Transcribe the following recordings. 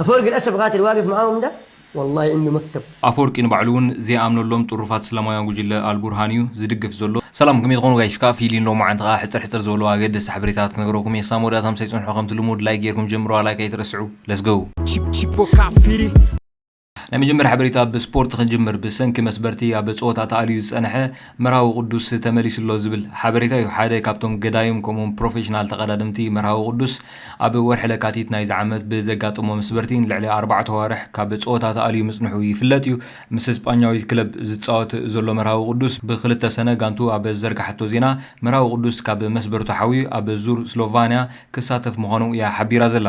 ኣፈወርቂ ለኣሰፍ ቃትል ዋቅፍ መዓሁም እንዳ ወላሂ ዒንዱ መክተብ። ኣፈወርቂ ንባዕሉ ውን ዘይኣምነሎም ጥሩፋት እስላማውያን ጉጅለ ኣልቡርሃን እዩ ዝድግፍ ዘሎ። ሰላም ከመይ ትኾኑ ጋይስ ክኣ ፊሊን ሎሚ መዓንቲ ክኣ ሕጽር ሕጽር ዝበሉ ኣገደስቲ ሓበሬታታት ክነግረኩም እየ ክሳብ መወዳእታ ምሳይ ጽንሑ ከምቲ ልሙድ ላይክ ጌርኩም ጀምርዋ ላይክ ኣይትረስዑ let's go። ናይ መጀመርያ ሓበሬታ ብ ስፖርት ክንጅምር ብሰንኪ መስበርቲ ኣብ ጸወታ ተኣልዩ ዝጸነሐ፣ መርሃዊ ቅዱስ ተመሊሱ ኣሎ ዝብል ሓበሬታ እዩ። ሓደ ካብቶም ገዳይም ከምኡውን ፕሮፌሽናል ተቐዳደምቲ መርሃዊ ቅዱስ ኣብ ወርሒ ለካቲት ናይዚ ዓመት ብዘጋጠሞ መስበርቲ ንልዕሊ ኣርባዕተ ኣዋርሕ ካብ ጸወታ ተኣልዩ ምጽንሑ ይፍለጥ እዩ። ምስ ስጳኛዊት ክለብ ዝጻወት ዘሎ መርሃዊ ቅዱስ ብክልተ ሰነ ጋንትኡ ኣብ ዘርገሓቶ ዜና መርሃዊ ቅዱስ ካብ መስበርቱ ሓውዩ ኣብ ዙር ስሎቫንያ ክሳተፍ ምዃኑ እያ ሓቢራ ዘላ።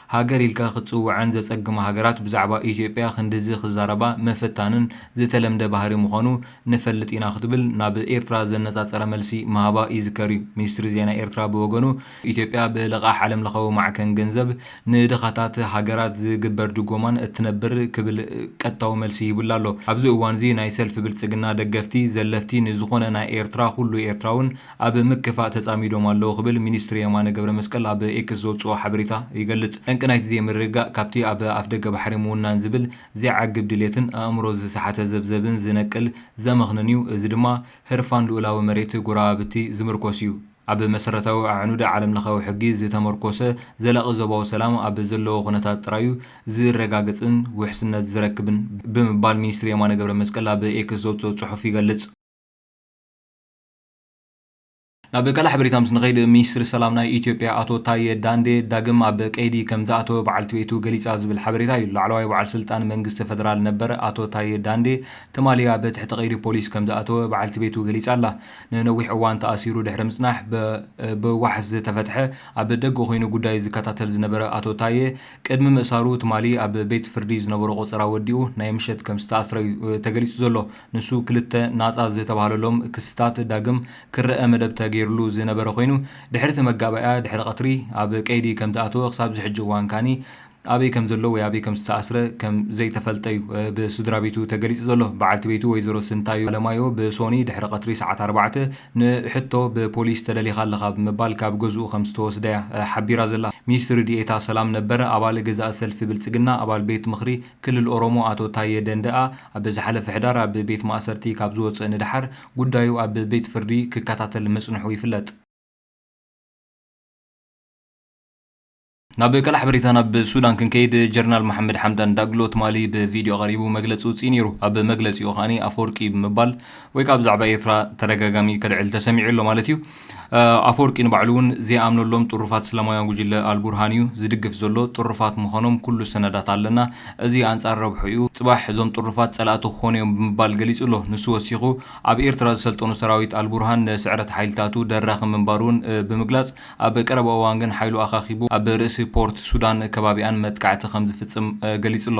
ሃገር ኢልካ ክትጽውዐን ዘጸግማ ሃገራት ብዛዕባ ኢትዮጵያ ክንድዚ ክዛረባ ምፍታንን ዝተለምደ ባህሪ ምዃኑ ንፈልጥ ኢና ክትብል ናብ ኤርትራ ዘነጻጸረ መልሲ ምሃባ ይዝከር'ዩ። ሚኒስትሪ ዜና ኤርትራ ብወገኑ ኢትዮጵያ ብልቓሕ ዓለምለኸዊ ማዕከን ገንዘብ ንድኻታት ሃገራት ዝግበር ድጎማን እትነብር ክብል ቀጥታዊ መልሲ ሂቡላ ኣሎ። ኣብዚ እዋንዚ ናይ ሰልፊ ብልጽግና ደገፍቲ፣ ዘለፍቲ ንዝኾነ ናይ ኤርትራ ኩሉ ኤርትራውን ኣብ ምክፋእ ተፃሚዶም ኣለው ክብል ሚኒስትሪ የማነ ገብረመስቀል ኣብ ኤክስ ዘውፅኦ ሓበሬታ ይገልፅ። ጠንቂ ናይቲ ዘይምርግጋእ ካብቲ ኣብ ኣፍደገ ባሕሪ ምውናን ዝብል ዘይዓግብ ድሌትን ኣእምሮ ዝሰሓተ ዘብዘብን ዝነቅል ዘመኽንን እዩ፣ እዚ ድማ ህርፋን ልኡላዊ መሬት ጎረባብቲ ዝምርኮስ እዩ። ኣብ መሰረታዊ ኣዕኑድ ዓለምለኻዊ ሕጊ ዝተመርኮሰ ዘላቒ ዞባዊ ሰላም ኣብ ዘለዎ ኩነታት ጥራይ'ዩ ዝረጋገፅን ውሕስነት ዝረክብን ብምባል ሚኒስትሪ የማነ ገብረመስቀል ኣብ ኤክስ ዘውፅኦ ፅሑፍ ይገልፅ። ናብ ካልእ ሓበሬታ ምስ ንኸይድ፣ ሚኒስትሪ ሰላም ናይ ኢትዮጵያ ኣቶ ታየ ዳንዴ ዳግም ኣብ ቀይዲ ከምዝኣተወ በዓልቲ ቤቱ ገሊጻ ዝብል ሓበሬታ እዩ። ላዕለዋይ በዓል ስልጣን መንግስቲ ፈደራል ነበር ኣቶ ታየ ዳንዴ ትማሊ ኣብ ትሕቲ ቀይዲ ፖሊስ ከምዝኣተወ በዓልቲ ቤቱ ገሊጻ'ላ። ንነዊሕ እዋን ተኣሲሩ ድሕሪ ምጽናሕ ብዋሕስ ዝተፈትሐ ኣብ ደገ ኮይኑ ጉዳዩ ዝከታተል ዝነበረ ኣቶ ታየ ቅድሚ ምእሳሩ ትማሊ ኣብ ቤት ፍርዲ ዝነበሮ ቆጸራ ወዲኡ ናይ ምሸት ከምዝተኣስረ'ዩ ተገሊጹ ዘሎ። ንሱ ክልተ ናጻ ዝተባህለሎም ክስታት ዳግም ክረኣ መደብ ተገይርሉ ዝነበረ ኮይኑ፣ ድሕሪ እቲ መጋባእያ ድሕሪ ቀትሪ ኣብ ቀይዲ ከም ዝኣተወ ክሳብ እዚ ሕጂ እዋን ከኣ ኣበይ ከም ዘሎ ወይ ኣበይ ከም ዝተኣስረ ከም ዘይተፈልጠ'ዩ ብስድራቤቱ ተገሊጹ ዘሎ። በዓልቲ ቤቱ ወይዘሮ ስንታዮ ኣለማዮ ብሶኑይ ድሕሪ ቀትሪ ሰዓት ኣርባዕተ ንሕቶ ብፖሊስ ተለሊኻ ኣለኻ ብምባል ካብ ገዝኡ ከም ዝተወስደ'ያ ሓቢራ ዘላ። ሚኒስትሪ ዲኤታ ሰላም ነበር፣ ኣባል ገዛኢ ሰልፊ ብልጽግና፣ ኣባል ቤት ምኽሪ፣ ክልል ኦሮሞ ኣቶ ታዬ ደንደኣ ኣብ ዝሓለፈ ሕዳር ኣብ ቤት ማእሰርቲ ካብ ዝወጽእ ንደሓር ጉዳዩ ኣብ ቤት ፍርዲ ክከታተል ምጽንሑ ይፍለጥ። ናብ ቀላሕ በሪታ ናብ ሱዳን ክንከይድ ጀርናል መሓመድ ሓምዳን ዳግሎ ትማሊ ብቪድዮ ቀሪቡ መግለጺ ውጽኢ ነይሩ። ኣብ መግለጺኡ ከኣ ኣፈወርቂ ብምባል ወይ ከኣ ብዛዕባ ኤርትራ ተደጋጋሚ ከልዕል ተሰሚዑ ኣሎ ማለት እዩ። ኣፈወርቂ ንባዕሉ እውን ዘይኣምነሎም ጥሩፋት እስላማውያን ጉጅለ ኣልቡርሃን እዩ ዝድግፍ ዘሎ። ጥሩፋት ምዃኖም ኩሉ ሰነዳት ኣለና። እዚ ኣንጻር ረብሕኡ እዩ። ጽባሕ እዞም ጥሩፋት ጸላእቲ ክኾኑ እዮም ብምባል ገሊጹ ኣሎ። ንሱ ወሲኹ ኣብ ኤርትራ ዝሰልጠኑ ሰራዊት ኣልቡርሃን ንስዕረት ሓይልታቱ ደራኺ ምንባሩ እውን ብምግላጽ ኣብ ቀረባ እዋን ግን ሓይሉ ኣኻኺቡ ኣብ ርእሲ ፖርት ሱዳን ከባቢኣን መጥቃዕቲ ከምዝፍጽም ገሊጹ ኣሎ።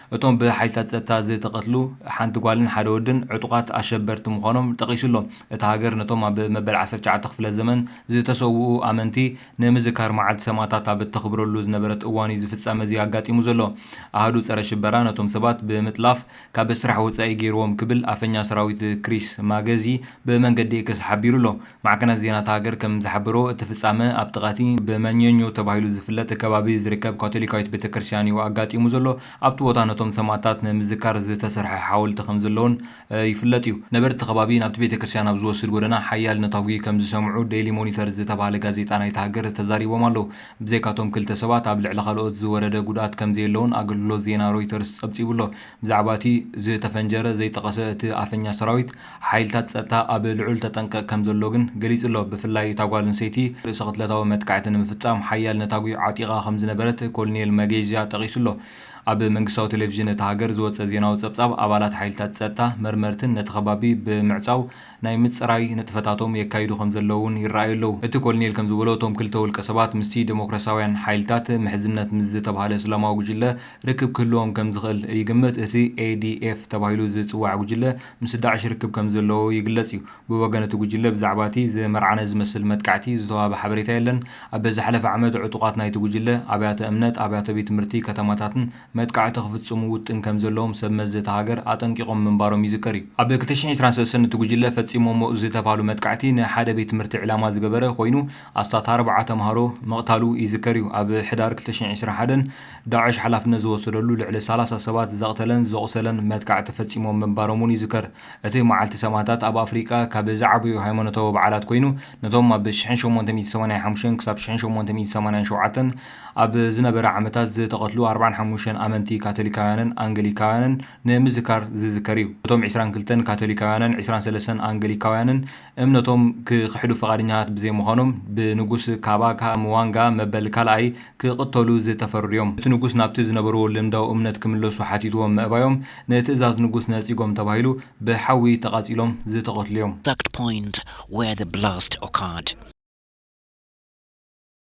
እቶም ብሓይልታት ጸጥታ ዝተቐትሉ ሓንቲ ጓልን ሓደ ወድን ዕጡቓት ኣሸበርቲ ምዃኖም ጠቒሱ ኣሎ። እታ ሃገር ነቶም ኣብ መበል ዓሰርተ ትሽዓተ ክፍለ ዘመን ዝተሰውኡ ኣመንቲ ንምዝካር መዓልቲ ሰማእታት ኣብ እተኽብረሉ ዝነበረት እዋን'ዩ ዝፍጻመ'ዚ ኣጋጢሙ ዘሎ። ኣሃዱ ጸረ ሽበራ ነቶም ሰባት ብምጥላፍ ካብ ስራሕ ወጻኢ ገይርዎም ክብል ኣፈኛ ሰራዊት ክሪስ ማገዚ ብመንገዲ ኤክስ ሓቢሩ ኣሎ። ማዕከናት ዜና እታ ሃገር ከም ዝሓበርዎ፣ እቲ ፍጻመ ኣብ ጥቓ'ቲ ብመኘኞ ተባሂሉ ዝፍለጥ ከባቢ ዝርከብ ካቶሊካዊት ቤተክርስትያን'ዩ ኣጋጢሙ ዘሎ። ኣብቲ ቦታ ነቶም ሰማእታት ንምዝካር ዝተሰርሐ ሓወልቲ ከም ዘሎ'ውን ይፍለጥ'ዩ። ነበርቲ እቲ ከባቢ ናብቲ ቤተክርስትያን ኣብ ዝወስድ ጎደና ሓያል ነታጒ ከም ዝሰምዑ ደይሊ ሞኒተር ዝተባህለ ጋዜጣ ናይታ ሃገር ተዛሪቦም ኣለዉ። ብዘይካ'ቶም ክልተ ሰባት ኣብ ልዕሊ ካልኦት ዝወረደ ጉድኣት ከም ዘየለ'ውን ኣገልግሎት ዜና ሮይተርስ ጸብጺቡ'ሎ። ብዛዕባ'ቲ ዝተፈንጀረ ዘይጠቐሰ እቲ ኣፈኛ ሰራዊት፣ ሓይልታት ጸጥታ ኣብ ልዑል ተጠንቀቕ ከም ዘሎ ግን ገሊጹ'ሎ። ብፍላይ እታ ጓል ኣንሰይቲ ርእሰ ቅትለታዊ መጥቃዕቲ ንምፍጻም ሓያል ነታጒ ዓጢቓ ከም ዝነበረት ኮሎኔል ማጌዥያ ጠቒሱ'ሎ። ኣብ መንግስታዊ ቴሌቪዥን እታ ሃገር ዝወጸ ዜናዊ ጸብጻብ፣ ኣባላት ሓይልታት ጸጥታ መርመርትን ነቲ ከባቢ ብምዕጻው ናይ ምጽራይ ንጥፈታቶም የካይዱ ከም ዘለዉ'ውን ይረኣዩ ኣለዉ። እቲ ኮሎኔል ከም ዝበሎ፣ እቶም ክልተ ውልቀሰባት ምስቲ ደሞክራስያውያን ሓይልታት ምሕዝነት ምስ ዝተባህለ እስላማዊ ጕጅለ ርክብ ክህልዎም ከም ዝኽእል ይግምት። እቲ ኤዲኤፍ ተባሂሉ ዝጽዋዕ ጕጅለ፣ ምስ ዳዕሽ ርክብ ከም ዘለዎ ይግለጽ እዩ። ብወገን እቲ ጉጅለ ብዛዕባ እቲ ዝመርዓነ ዝመስል መጥቃዕቲ ዝተዋህበ ሓበሬታ የለን። ኣብ ዝሓለፈ ዓመት ዕጡቓት ናይቲ ጉጅለ፣ ኣብያተ እምነት፣ ኣብያተ ቤት ትምህርቲ፣ ከተማታትን መጥቃዕቲ ክፍጽሙ ውጥን ከም ዘለዎም ሰብ መዚ እታ ሃገር ኣጠንቂቖም ምንባሮም ይዝከር እዩ። ኣብ ክልተ ሽሕን ዕስራን ሰለስተን እቲ ጉጅለ ፈጺሞሞ ዝተብሃሉ መጥቃዕቲ ንሓደ ቤት ትምህርቲ ዕላማ ዝገበረ ኮይኑ ኣስታት ኣርብዓ ተምሃሮ ምቕታሉ ይዝከር እዩ። ኣብ ሕዳር ክልተ ሽሕን ዕስራን ሓደን ዳዕሽ ሓላፍነት ዝወሰደሉ ልዕሊ ሰላሳ ሰባት ዘቕተለን ዘቑሰለን መጥቃዕቲ ፈጺሞም ምንባሮም'ውን ይዝከር። እቲ መዓልቲ ሰማእታት ኣብ ኣፍሪቃ ካብ ዝዓበዩ ሃይማኖታዊ በዓላት ኰይኑ፣ ነቶም ኣብ ሽሕን ሸሞንተ ሚእቲ ሰማንያን ሓሙሽተን ክሳብ ሽሕን ሸሞንተ ሚእቲ ሰማንያን ሸውዓተን ኣብ ዝነበረ ዓመታት ዝተቐትሉ ኣርብዓን ሓሙሽተን ኣመንቲ ካቶሊካውያንን ኣንገሊካውያንን ንምዝካር ዝዝከር እዩ። እቶም ዕስራን ክልተን ካቶሊካውያንን ዕስራን ሰለስተን ኣንገሊካውያንን፣ እምነቶም ክኽሕዱ ፍቓደኛታት ብዘይምዃኖም ብንጉስ ካባካ ምዋንጋ መበል ካልኣይ ክቕተሉ ዝተፈርዱ'ዮም። እቲ ንጉስ ናብቲ ዝነበርዎ ልምዳዊ እምነት ክምለሱ ሓቲትዎም ምእባዮም ንትእዛዝ ንጉስ ነጺጎም ተባሂሉ ብሓዊ ተቓጺሎም ዝተቐትሉ'ዮም። Exact point where the blast occurred።